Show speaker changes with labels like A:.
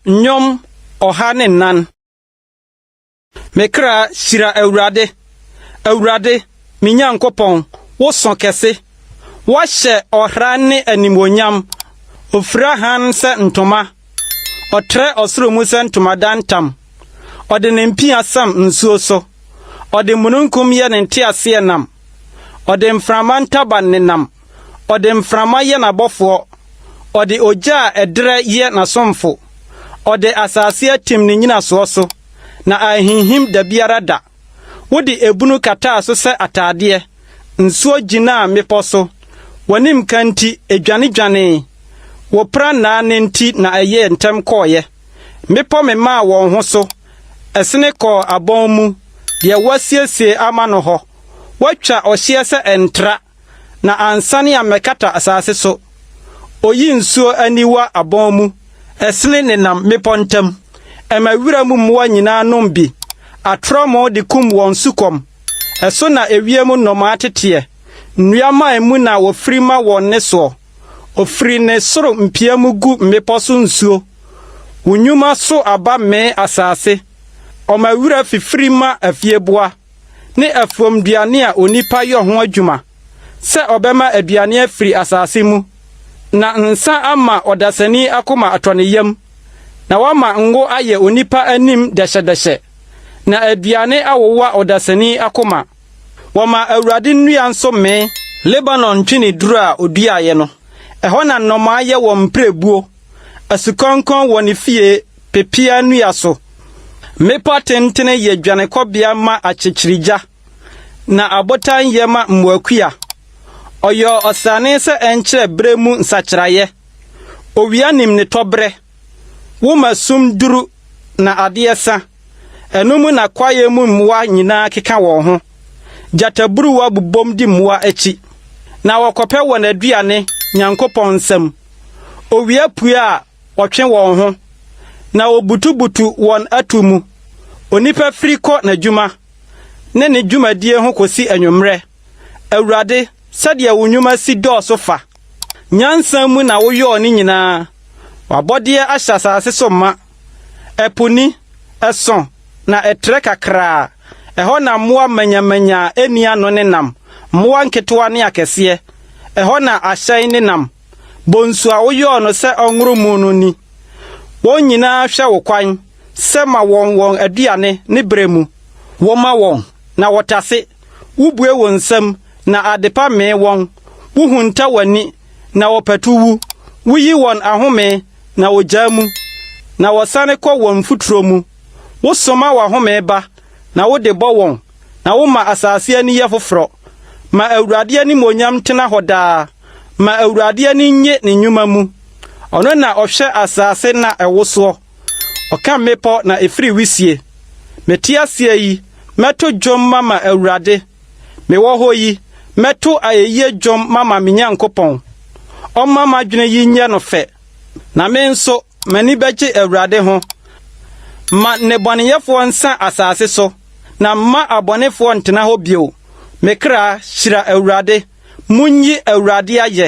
A: Nnwom ɔha ne nnan. Me kra hyira Awurade, Awurade, me Nyankopɔn, wo sõ kɛse. Woahyɛ ɔhran ne animuonyam, ofura hann sɛ ntoma. Ɔtrɛ ɔsoro mu sɛ ntomadan tam, Ɔde ne mpia sam nsuo so. Ɔde mununkum yɛ ne nteaseɛnam, Ɔde mframa ntaban nenam. Ɔde mframa yɛ n'abɔfoɔ, Ɔde ogya a ɛdrɛ yɛ n'asomfo. Ɔde asase atim ne nnyinasoɔ so, Na anhinhim dabiara da. Wode ebunu kataa so sɛ ataadeɛ, nsuo gyinaa mmepɔ so, w'anim ka nti ɛdwanedwanee, wo prannaa no nti na ɛyɛɛ ntɛm kɔeɛ. Mmepɔ memaa wɔn ho so, ɛsene kɔɔ abɔn mu, deɛ woasiesie ama no hɔ, woatwa ɔhyeɛ sɛ ɛntra. na ansane ammɛkata asase so. Oyi nsuo aniwa abɔn mu, ɛsene nenam mmepɔ ntam. Ɛma wiram mmoa nyinaa nom bi. Atorɔmo de kum wɔn sukɔm. Ɛso na ewiem nnomaa teteɛ. Nnua mman mu na wɔfiri ma wɔn nnesoɔ. Ɔfiri ne soro mpia mu gu mmepɔ so nsuo. Wo nnwuma so aba mee asase. Ɔma wira fifiri ma afieboa. ne afuomduane a onipa yɔ ho adwuma sɛ ɔbɛma aduane afiri asase mu, na nsã ama ɔdasani akoma atɔ ne yam, na wama ngo ayɛ onipa anim dɛhyɛdɛhyɛ, na aduane awowa ɔdasani akoma. Wɔma Awurade nnua nso mee. Lebanon ntweneduro a ɔduaeɛ no, ɛhɔ na nnomaa yɛ wɔn mpirebuo, asukɔnkɔn wɔ ne fie. pepeaa nnua so. Mmepɔ atentene yɛ dwanekɔbea ma akyekyerigya, na abotan yɛ ma mmoakua. Ɔyɔɔ ɔsrane sɛ ɛnkyerɛ bere mu nsakyeraeɛ. Owia nim ne tɔberɛ. Wo ma sum duru na adeɛ sa. Ɛno mu na kwaeɛ mu mmoa nyinaa keka wɔn ho. Gyataburuwa bobom di mmoa akyi, na wɔkɔpɛ wɔn aduane Nyankopɔn nsam. Owia pue a, Wɔtwe wɔn ho, na wobutubutu wɔn atuo mu. Onipa firi kɔ n'adwuma ne ne dwumadie ho kɔsi anwummerɛ. Awurade, sɛdeɛ wo nnwuma si dɔɔso fa! Nyansa mu na woyɔɔ ne nyinaa. W'abɔdeɛ ahyɛ asase so ma. Ɛpo ni, ɛsõ, na ɛtrɛ kakraa. Ɛhɔ na mmoa manyamanya a ɛnni ano nenam, mmoa nketewa ne akɛseɛ. Ɛhɔ na ahyɛn nenam. Bonsu a woyɔɔ no sɛ ɔnworo mu no ni. Wɔn nyinaa hwɛ wo kwan sɛ ma wɔn wɔn aduane ne berɛ mu. Woma wɔn, na wɔtase. Wobue wo nsam, na adepa mee wɔn. Wohunta w'ani, na wɔpatu wu. Woyi wɔn ahome, na wɔgyaa mu, na wɔsane kɔ wɔn mfuturo mu. Wosoma w'ahome ba, na wode bɔ wɔn. Na woma asase ani yɛ foforɔ. Ma Awurade animuonyam ntena hɔ daa. Ma Awurade ani nnye ne nnwuma mu. Ɔno na ɔhwɛ asase na ɛwosoɔ. Ɔka mmepɔ na ɛfiri wisie. Mete aseɛ yi, mɛto dwom mama Awurade. Mewɔ hɔ yi, mɛto ayɛyie dwom mama me Nyankopɔn. Ɔmma m'adwene yi nyɛ no fɛ, na me nso, M'ani bɛgye Awurade ho. Ma nnebɔneyɛfoɔ nsa asase so, na mma abɔnefoɔ ntena hɔ bio. Me kra, hyira Awurade. Monyi Awurade ayɛ.